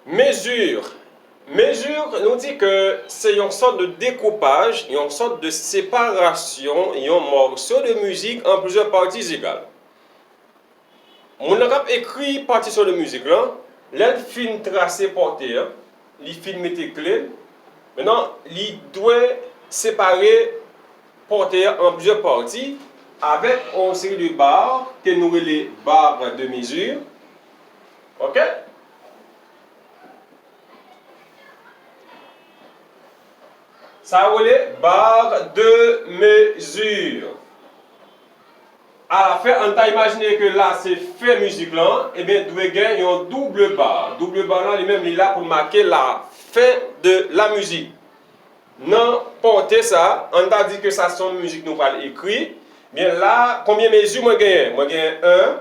Mesure, Mesure nou di ke se yon sòt de dekoupaj, yon sòt de separasyon yon mòso de mizik an plizyè pati egal. Moun nan k ap ekri patisyon de mizik lan, lè l fin trase pòte an, li fin mete kle l, mennan li dwe separe pòte an an plizyè pati avèk yon seri de bar ke nou rele bar de mesure. ok. Sa yo rele barre de mesure. A la fen, an n ta imajine ke la se fen mizik lan, ebyen dwe gen yon double barre. Double barre lan li menm li la pou make la fen de la mizik. Nan porte sa, an n ta di ke sa se yon mizik nou pral ekri, ebyen la, konbyen mezi mwen genyen? Mwen genyen 1.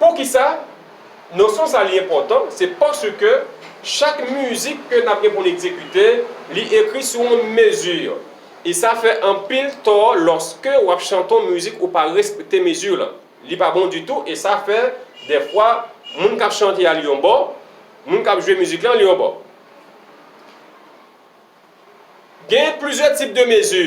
Poukisa nosyon sa li enpòtan? Se paske chak mizik ke n ap gen pou n egzekite, li ekri sou yon mezi. E sa fè anpil tò lòske w ap chante yon mizik ou pa respekte mezi lan. Li pa bon ditou e sa fè dèfwa moun k ap chante a li yon bò, moun k ap jwe mizik lan li yon bò. Gen plizyè tip de mezi.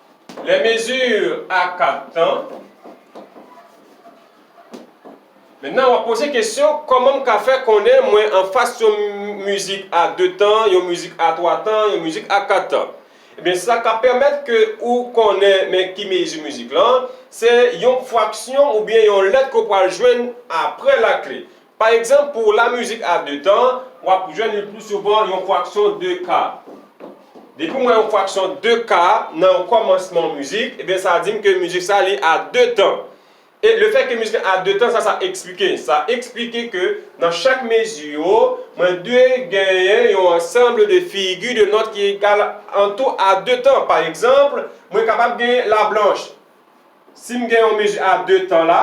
Les mesures a 4 tan. Menna wap poze kesyon koman m ka fè konnen mwen anfas yon mizik a 2 tan, yon mizik a 3 tan, yon mizik a 4 tan. Ebyen sa ka pèmèt ke ou konnen men ki mezi mizik lan, se yon fraksyon oubyen yon lèt ke w pral jwenn apre lakle. Pa egzanp, pou la mizik a de tan, w ap jwenn le pli souvan yon fraksyon de ka. Depi w wè yon fraksyon de ka nan yon kòmansman yon mizik, ebyen sa di m ke mizik sa li a de tan. E le fè ke mizik la a de tan, sa sa eksplike? Sa eksplike ke nan chak mezi yo, mwen dwe genyen yon ansanble de figi de nòt ki egal an tou a de tan. Pa egzanp, mwen kapab genyen la blanch. si m gen yon mezi a 2 tan la,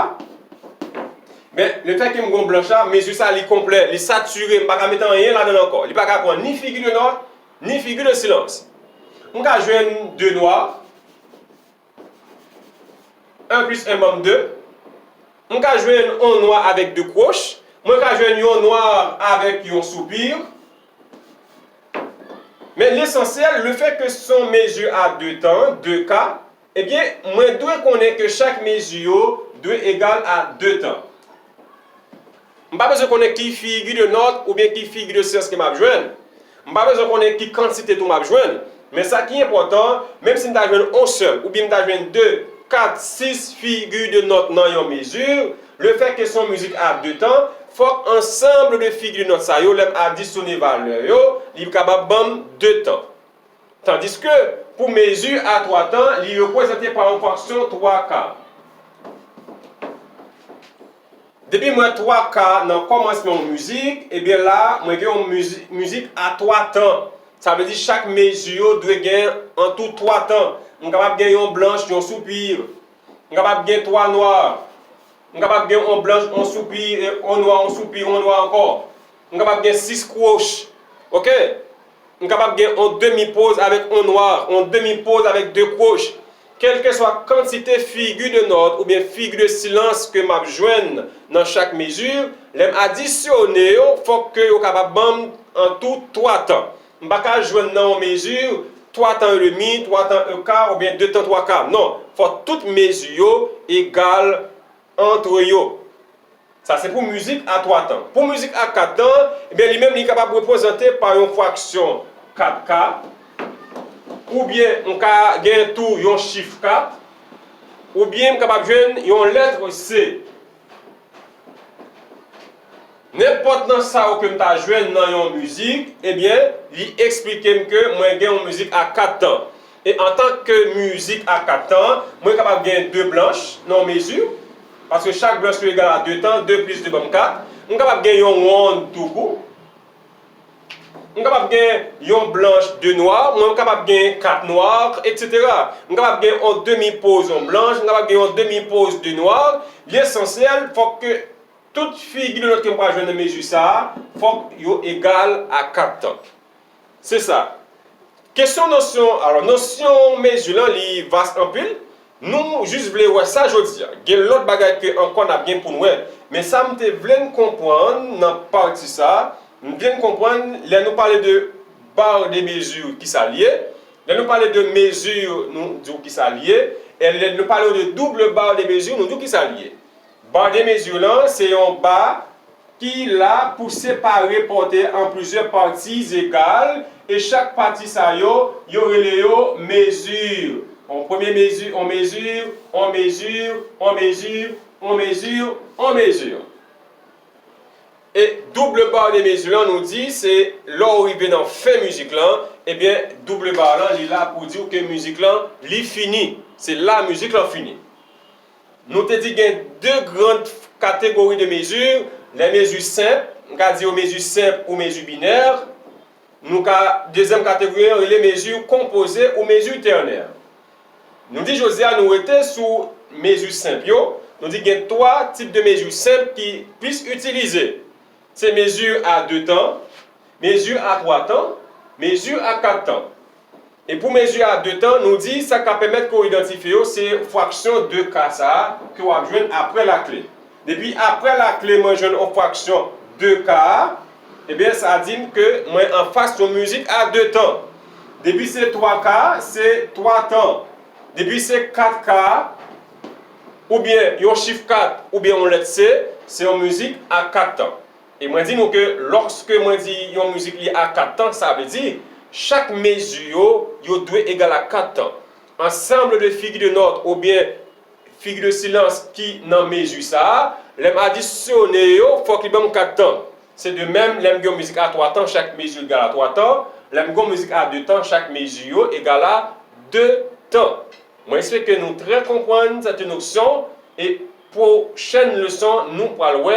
men le fè ke m gen yon blanch la, mezi sa li konplè, li satire, m pa ka mete anyen ladan l ankò. Li pa ka pran ni figi de nwa, ni figi de silans. M ka jwenn 2 nwa, 1 plis 1 ban m 2. M ka jwenn yon nwa avèk 2 kwoch. Mwen ka jwenn yon nwa avèk yon soupir. Men lesansyèl, le fè ke son mezi a 2 tan, 2 ka, Ebyen, mwen dwe konnen ke chak mezi yo dwe egal a 2 tan. M pa bezwen konnen ki figi de nòt oubyen ki figi de syans ke m ap jwenn. M pa bezwen konnen ki kantite tou m ap jwenn. Men sa ki enpòtan, menm si m ta jwenn on sèl oubyen m ta jwenn 2, 4, 6 figi de nòt nan yon mezi, le fè ke se yon mizik a 2 tan, fòk ansanble de figi de nòt sa yo, lè m adisone valè yo, li kapab ban m 2 tan. Tandiske, pou mezi a twa tan, li reprezante pa yon fraksyon twa ka. Depi m wè twa ka nan kòmansman yon mizik, ebyen la a, mwen gen yon mizik a twa tan. Sa vle di chak mezi yo dwe gen antou twa tan. M kapab gen yon blanch, yon soupir. M kapab gen twa nwa. M kapab gen yon blanch, yon soupir, yon nwa, yon soupir, yon nwa ankò. M kapab gen 6 kwoch. Ok. M kapab gen yon demi poz avèk yon nwa, yon demi poz avèk 2 kwoch. Kèlkeswa kantite figi de nòt oubyen figi de silans ke m ap jwenn nan chak mezi, lè m adisyone yo, fòk ke yo kapab ban m an tou 3 tan. M pa ka jwenn nan yon mezi 3 tan e demi, 3 tan e ka oubyen 2 tan 3 ka. Non. Fòk tout mezi yo egal. Antre yo. Sa se pou mizik a twa tan. Pou mizik a kat tan, ebyen li menm li kapab reprezante pa yon fraksyon kat ka, oubyen m ka gen tou yon chif kat, oubyen m kapab jwenn yon letre se. Nenpòt nan sa yo ke m ta jwenn nan yon mizik, ebyen li esplike m ke mwen gen yon mizik a kat tan. E antank ke mizik a 4 tan, mwen kapab gen 2 blanch nan yon mezi, paske chak blanch nou egal a 2 tan, 2 plis 2 banm 4. M kapab gen yon wonn tou kou. M kapab gen yon blanch 2 nwa, mwen m kapab gen 4 nwa, eksetera. M kapab gen yon demi poz yon blanch, m kapab gen yon demi poz 2 nwa. Li esansyèl fòk ke tout figi de nòt ke m pral jwenn nan mezi sa a, fòk yo egal a 4 tan. Se sa. Kesyon nosyon, alò nosyon mezi lan li vas anpil. Nou jis vle wè sa jodi a. Gen lòt bagay ke ankò n ap gen pou n wè. Men sa m te vle n konprann nan pati sa, m vle n konprann lè nou pale de barre de mesure ki sa l ye, lè nou pale de mesure nou di w ki sa l ye, e lè nou pale w de double barre de mesure nou di w ki sa l ye. Barre de mesure lan se yon ba ki la pou separe pòtè an plizyè pati egal e chak pati sa yo, yo rele yo mesure. On premye mesure, on mesure, on mesure, on mesure, on mesure, on mesure. E double barre de mesure lan nou di se lè ou rive nan fen mizik lan, ebyen double barre lan li la pou di ou ke mizik lan li fini. Se la mizik lan fini. Nou te di gen 2 gran kategori de mezi, lè mezi senp, m ka di yo mezi senp ou mezi binè, nou ka, dezyèm kategori an rele mezi konpoze ou mezi tènè. Nou di jodi a nou rete sou mezi senp yo, nou di gen 3 tip de mezi senp ki plis itilize, se mezi a 2 tan, mezi a 3 tan, mezi a 4 tan. E pou mezi a de tan, nou di sa k ap pèmèt ke w idantifye yo se fwaksyon de ka sa a ke w ap jwenn apre lakle. Depi apre lakle mwen jwenn yon fwaksyon de ka a, ebyen sa di m ke mwen anfas yon mezi a de tan. Depi se twa ka, se twa tan. Depi se kat ka, oubyen yon chif kat oubyen yon lèt se, se yon mezi a kat tan. E mwen di nou ke lòske mwen di yon mizik li a 4 tan, sa vle di, chak mezi yo, yo dwe egal a 4 tan. Ansanble de figi de nòt oubyen figi de silans ki nan mezi sa a, lè m adisyone yo, fòk li ban m 4 tan. Se de menm, lè m gen yon mizik a 3 tan, chak mezi yo egal a 3 tan. Lè m gen yon mizik a 2 tan, chak mezi yo egal a 2 tan. Mwen espeke nou trè konprann sète noksyon e pwochèn leson nou pral wè,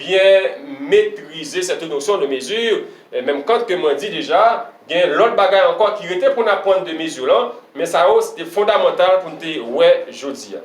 byen metrize sète nosyon de mezi, menm kant ke mwen di deja, gen lòt bagay ankò ki rete pou n apwann de mezi lan, men sa yo se te fondamantal pou n te wè jodi a.